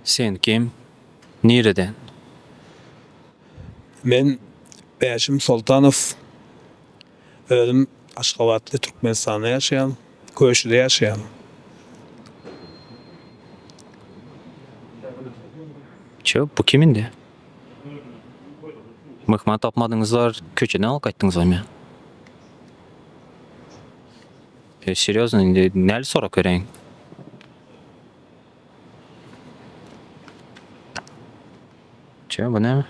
Sen kim? Nireden? Men Bäşim Soltanow. Özüm Aşgabatly Türkmenistanda ýaşaýan. Köşide ýaşaýan. Çö bu kim indi? Myhman tapmadyňyzlar köçeden alyp gaýtdyňyzamy? E serýozno indi näli sorap bereýin? Çö bu näme?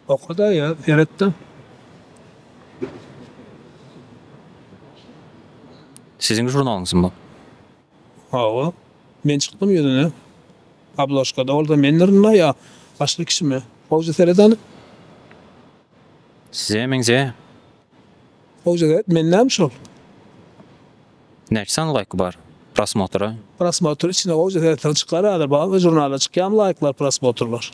Okada ya seretde. Siziň žurnalyňyzmy bu? Hawa. Men çykdym ýüzüne. Obložkada bolsa mendirmi ýa başga kişimi? Howja seret hany. Size meňzeýä. Howja seret men näme şol? Näçe sany laýky bar prosmotra. Prosmotr içine gowja seretseň çykar häzir bazda žurnalda çykýamy laýklar prosmotrlar.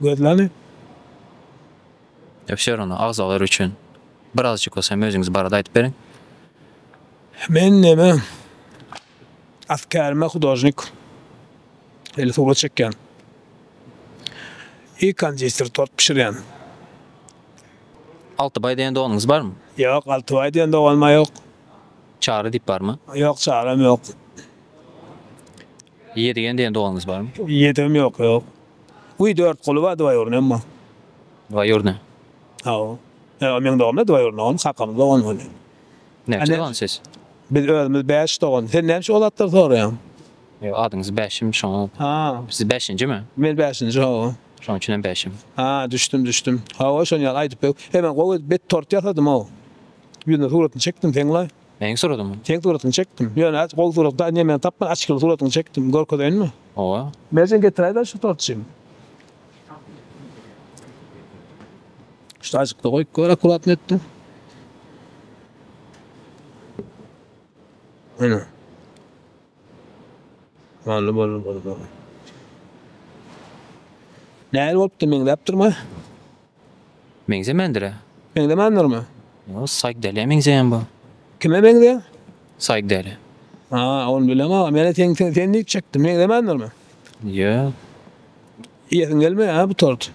Gözleni. Efşeronda agzalar üçin birazjyk bolsa hem özüňiz barada aýdyp beriň. Men neme at kärime hudožnik eli surat çekýän. I konditer tort bişirýän. Altybaý diýen doganyňyz barmy? Ýok, Altybaý diýen doganymam ýok. Çary diýip barmy? Ýok, Çarym ýok. Ýedigen diýen doganyňyz barmy? Ýedigim ýok, ýok. Wiý, Dörtguly bar, dwaýurnyýem bar. Dwaýurny. Hawa. Ýa, meň doganymda dwaýurny doganym, kakamyň dogany ol. Näçe dogan siz? Biz özümiz bäş dogan. Sen näme üçin o zatlary soraýaň? Ýok, adyňyz Bäşim, şoňa. Ha. Siz bäşinjimi? Men bäşinji, hawa. Şoň üçinem bäşim. Ha, düşdüm, düşdüm. Hawa, şon ýaly aýdyp bew. He, men gowy edip bet tort ýasadym-ow. Ýüzüne suratyny çekdim seň-la. Meň suratymy? Seň suratyňy çekdim. Ýöne az gowy surat da, ine, men tapman açgyly suratyňy çekdim. Görkezeýinmi? Hawa. Merjen getiräýdä şu tortjyny. Şurajykda goýup gör akuratny etde. Ene. Many bolun gurban. Nähili bolupdyr meňzäpdirmi? Meňzemändirä. Meňzemändirmi? Ýa Saýkdäliýä meňzeýän bu. Kime meňzeýän? Saýkdäliýä. Ha, ony bilemok aga. Menä seň sen sen diýip çekdim. Meňzemändirmi? Ýa. Iýesiň gelmeýär-hä bu tort.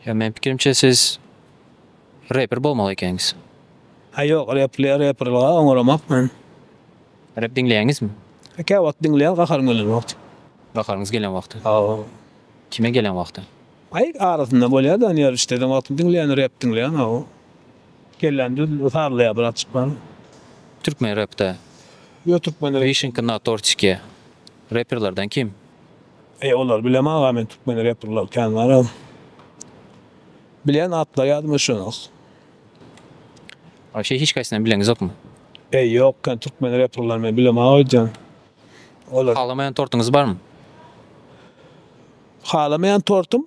Ýa meň pikirimçe siz reper bolmaly ekeniňiz. Aý ýok repli reperlyga oňaramak men. Rep diňleýäňizmi? Kä wagt diňleýän gaharym gelen wagty. Gaharyňyz gelen wagty. Hawa. Kime gelen wagty? Aý arasynda bolýa da nirä işleden wagtym diňleýän rep diňleýän hawa. Kellem düz sazlaýa bratjyk men. Türkmen repde. Ýok türkmen rep. Wişinka na tortikiýa reperlerden kim? Eý olar bilem aga men türkmen reprler kän garaz bilen atlar ýadyma şonok. Wapşe hiç kaysynam bileňizokmy. Eý ýok kän türkmen reprler men bilem aga öýdýän olar. Halamaýan tortuňyz barmy. Halamaýan tortum.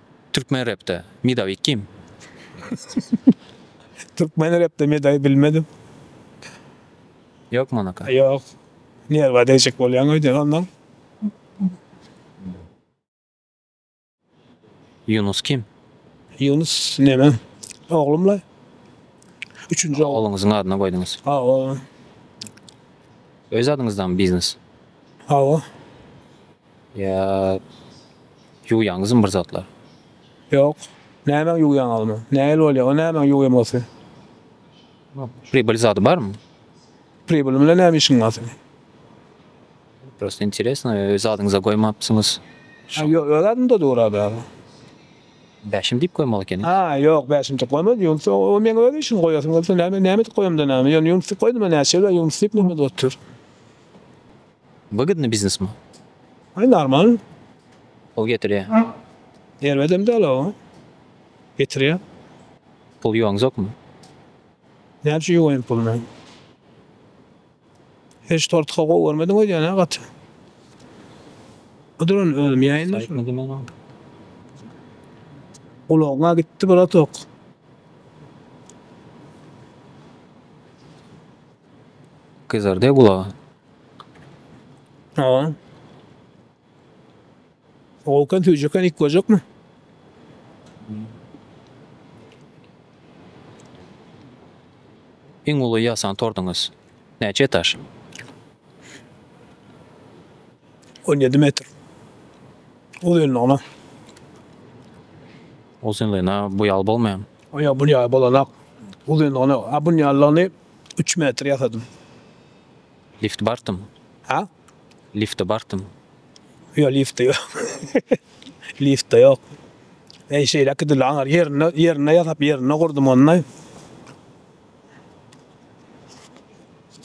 Türkmen repde medawi kim? Türkmen repde medawi bilmedim. Ýok Monaka. Ýok. Nerwa degjek bolýaň öýden onnoň. Ýunus kim? Ýunus neme? Oglum la. Üçünji oglum. Ogluňyzyň adyna goýduňyz. Hawa. Öz adyňyzdamy biznes? Hawa. Ýa ýuwýaňyzmy bir zatlar? Ýok. Nämäňi ýuwýaň agmy? Nähili bolýa o nämäňi ýuwýam gaty? Pribyl zady barmy? Pribyl bilen näme işiň gaty? Prosta interesno öz adyňyza goýmapsyňyz. Ha ýo öz adymda dur ady aga. Bäşim diýip goýmaly ekeni. Ha ýok bäşim diýip goýmaz ýunus o o meň öz işim goýasyň gelse näme näme edip goýamda näme ýöne ýunus diýip goýdum a näçe ýyl a ýunus diýip näme edip otur. Wygidny biznes mu? Aý normal. Pul getirýär. Erbedem däl o. Getirýär. Pul ýuwaňzokmy? Näçe ýuwaýyn pul men? Hiç tortka gowy görmediň öýdýän hä gaty. Oduran özüm ýaýyna şuny. Gulagyňa gitdi bratok. Gyzardy gulagy. Aa. Okan tüycüken ilk görecek mi? Iň uly ýasan tordyňyz näçe etaž? On ýedi metr. Uzynlygyna. Uzynlygyna bu ýaly bolmaýamy? Ýok, bu ýaly bolanak. Uzynlygyna, a bu ýalyny üç metr ýasadym. Lift bartym. Hä? Lifte bartym. Ýok, lifte ýok. Lifte ýok. Eý, şeýleki dil aňar. Ýerinde, ýerinde ýasap, ýerinde gurdum ony.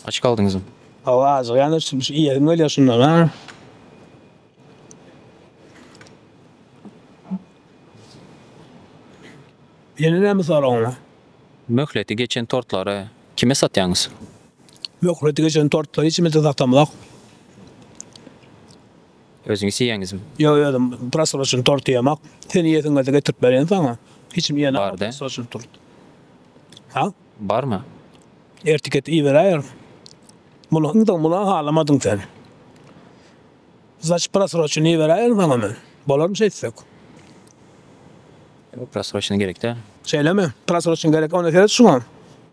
Aç galdyňyzmy? Hawa, ajyk ýaly şu, şu iýesim gelýär şundan, ha. Ýene näme soragyň bar? Möhleti geçen tortlary kime satýaňyz? Möhleti geçen tortlary içimizde saklamzok. Özüňiz iýýäňizmi? Ýok, özüm prasroçny tort iýemok. Sen iýesiň gelse getirip berýän saňa. Hiç kim iýen bar-da. Prasroçny tort. Ha? Barmy? Ertiket iýiberäýer. Muny ynha muny halamadyň sen. Znaçyt prasroçny iýiberäýerin saňa men. Bolarmy şeýtsek? Prasroçny gerek däl. Şeýlemi? Prasroçny gerek. Onda seret şuňa.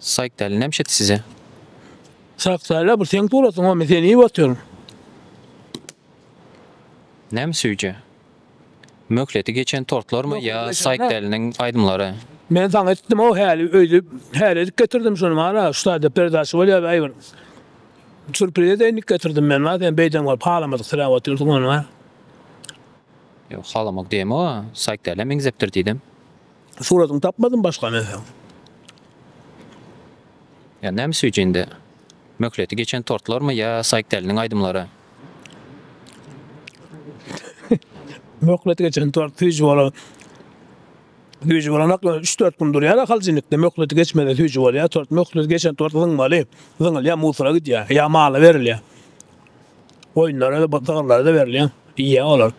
Sayk däli näme şetdi size. Sak däli bu seň suratyň o men seni iýip otyr. Näme süýje? Möhleti geçen tortlarmy ýa Sayk däliniň aýdymlary? Men saňa etdim o häli öýli häli edip getirdim şuny mana şu taýda perdaça bolýa bäý bir surpriz edeýin diýip getirdim men ma sen beýden görüp halamadyk sirä otyrsyň ony ma. Ýok halamak diýemok a Sayk dälä meňzepdir diýdim. Suratyny tapmadym başga näsem. Ýa nämes ücinde? Möhleti geçen tortlarmy ýa Saýkdäliniň aýdymlary? Möhleti geçen tort süýji bolan süýji bolanok üç dört gün durýara haljinlikde möhleti geçmese süýji bolýa tort möhleti geçen tort zyňmaly zyňylýa musora gidýä ýa mala berilýä goýunlara sygyrlara da berilýa iýýä olar.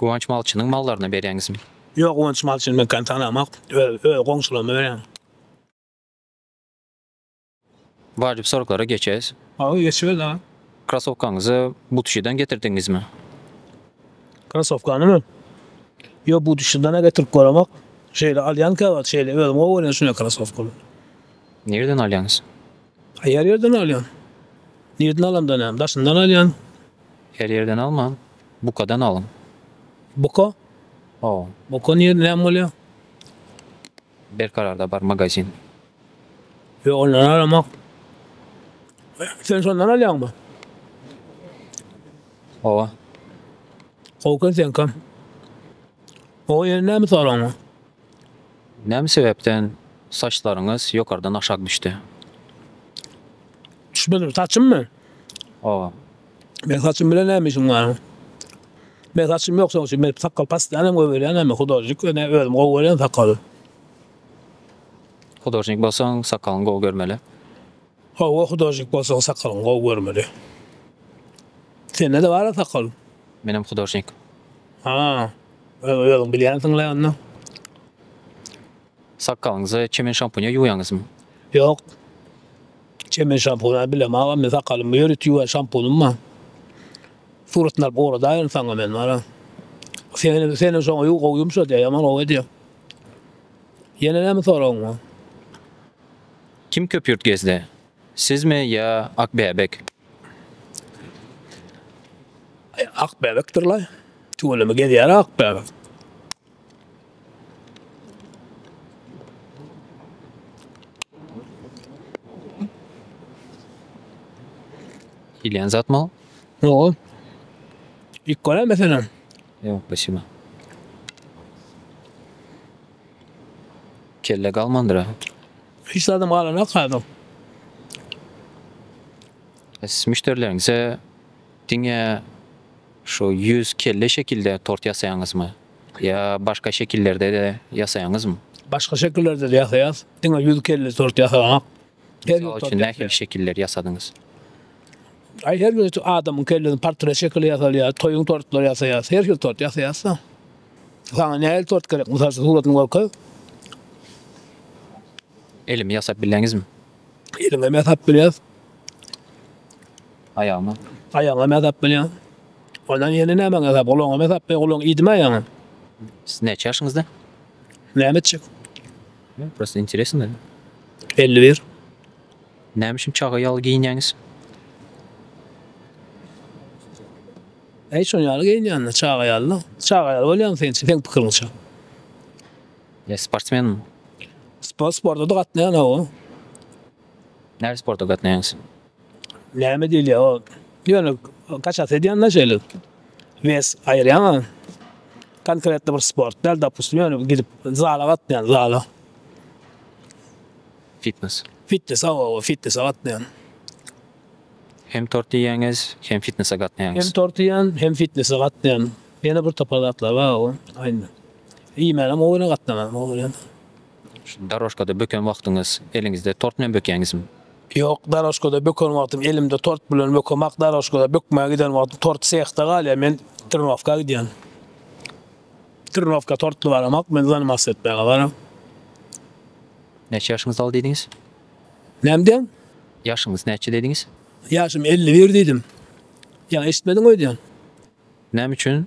Guwanç malçynyň mallaryna berýäňizmi? Ýok Guwanç malçyny men kän tanamok. Öz öz goňşularyma berýän. Wajyp soraglara geçeýs. Hawa geçeýs aga. Krasowkaňyzy Butuşidan getirdiňizmi? Krasowkanymy? Ýok Butuşidan-a getirip göremok. Şeýle alýan käwagt şeýle özüm gowy görýän şunday krasowkalary. Nireden alýaňyz? Her ýerden alýan. Nireden alamda näme? Daşyndan alýan. Her ýerden almaň, bukadan alyň. Buka? Hawa. Buka nirde, näme bolýar? Berkararda bar magazin. Ýok, ondan alamok. Sen şondan alýaňmy? Hawa. Gowy eken seňkam. Gowy, ýöne näme soragym? Näme sebäpden saçlaryňyz ýokardan aşak düşdi? Düşmedim, saçymmy? Hawa. Meň saçym bilen näme işiň bar? Meň saçym ýok şoň üçin men sakgal paslaýanam goýberýän näme hudožnik ýöne özüm gowy görýän sakgaly. Hudožnik bolsaň sakgalyňy gowy görmeli. Hawa hudažik bolsaň sakalyň gowy görmeli. Sendede bara sakal. Menem hudažnik. Ha. Özüň bilýänsiňle onda. Sakalyňyzy çemen şampunya ýuwýaňyzmy? Ýok. Çemen şampuna bilem agam men sakalymy ýörit ýuwýan şampunym bar. Suratyny alyp ugradaýyn saňa men wara. Senem senem şoňa ýuw gowy ýumşadýar ýaman gowy edýär. Ýene näme soragyň bar? Kim köpýurt gezdi? Sizmi ýa Akbäbek? Akbäbekdir-laý. Tüweleme gezýär-ä Akbäbek. Iýilýän zatmy ol? Ýo-o. Iýip görä meselem? Ýok, başyma. Kelle galmandyr a. Hiç zadam galanok hazir. Siz müşderileriňize diňe şu ýüz kelle şekilde tort ýasaýaňyzmy? Ýa başga şekillerde-de ýasaýaňyzmy? Başga şekillerde-de ýasaýas. Diňe ýüz kelle tort ýasaganok. Her Mysal ýurtda üçin däp nähili ber. şekilleri ýasadyňyz? Aý her bir adamyň kellesinde portret şekili ýasalýar, toýuň tortlary ýasaýarys, her hil tort ýasaýarys-da. Saňa nähili tort gerek? Mysal üçin suratyny görkez. Elimi ýasap bileňizmi? Eliňem ýasap bilýäs, Aýagymy? aýagyňam ýasap bilýäň. Ondan ýene nämäňi ýasap, gulagyňam ýasap bilýäň, gulagyň iýdimi aýagyň? Siz näçe ýaşyňyzda? Näme etjek? Prosto interesno meni. Elli bir. Näme üçin çaga ýaly geýinýäňiz? Äý şon ýaly geýinýända çaga ýaly-da. Çaga ýaly bolýaňmy sen seň pikiriňçe? Ýa sportsmenmi? Sport sporta-da gatnaýan hawa. Nähili sporta gatnaýaňyz? Näme diýilýär o ýöne kaçasy edýänler şeýle wes aýyrýan a konkretno bir sport däl dopustim ýöne gidip zala gatnaýan zala. Fitnes. Fitnes awa awa fitnese gatnaýan. Hem tort iýýäňiz hem fitnese gatnaýaňyz. Hem tort iýýän hem fitnese gatnaýan. Ýene bir topar zatlar bar o aýna. Iýmänem o ýöne gatnamanam o ýöne. Şu darožkada böken wagtyňyz eliňizde tort bilen bökäňizmi? Ýok, darožkada böken wagtym elimde tort bilen bökemak, darožkada bökmäge giden wagtym tort sehde galýar, men trnowka gidýän. Trnowka tortly baramak, men zanimasiýa etmäge baram. Näçe ýaşyňyz dal diýdiňiz? Näme diýýän? Ýaşyňyz näçe diýdiňiz? Ýaşym elli bir diýdim. Ýa eşitmediňmi öýdýän? Näme üçin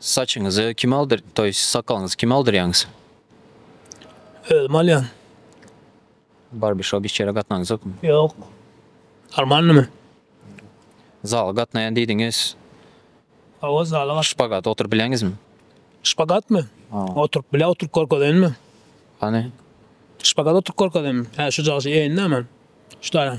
Saçyňyzy kim aldyr, to ýest sakalyňyzy kim aldyrýaňyz? Özüm alýan. Barbişop hiç ýere gatnaňyzokmy? Ýok. Normalnymy? Zala gatnaýan diýdiňiz. Hawa zala gat. Şpagata oturyp bileňizmi? Şpagatmy? Oturyp bilä oturyp görkezeýinmi? Hany? Şpagata oturyp görkezeýinmi? Hä şujagşy eýin näme? Şuda.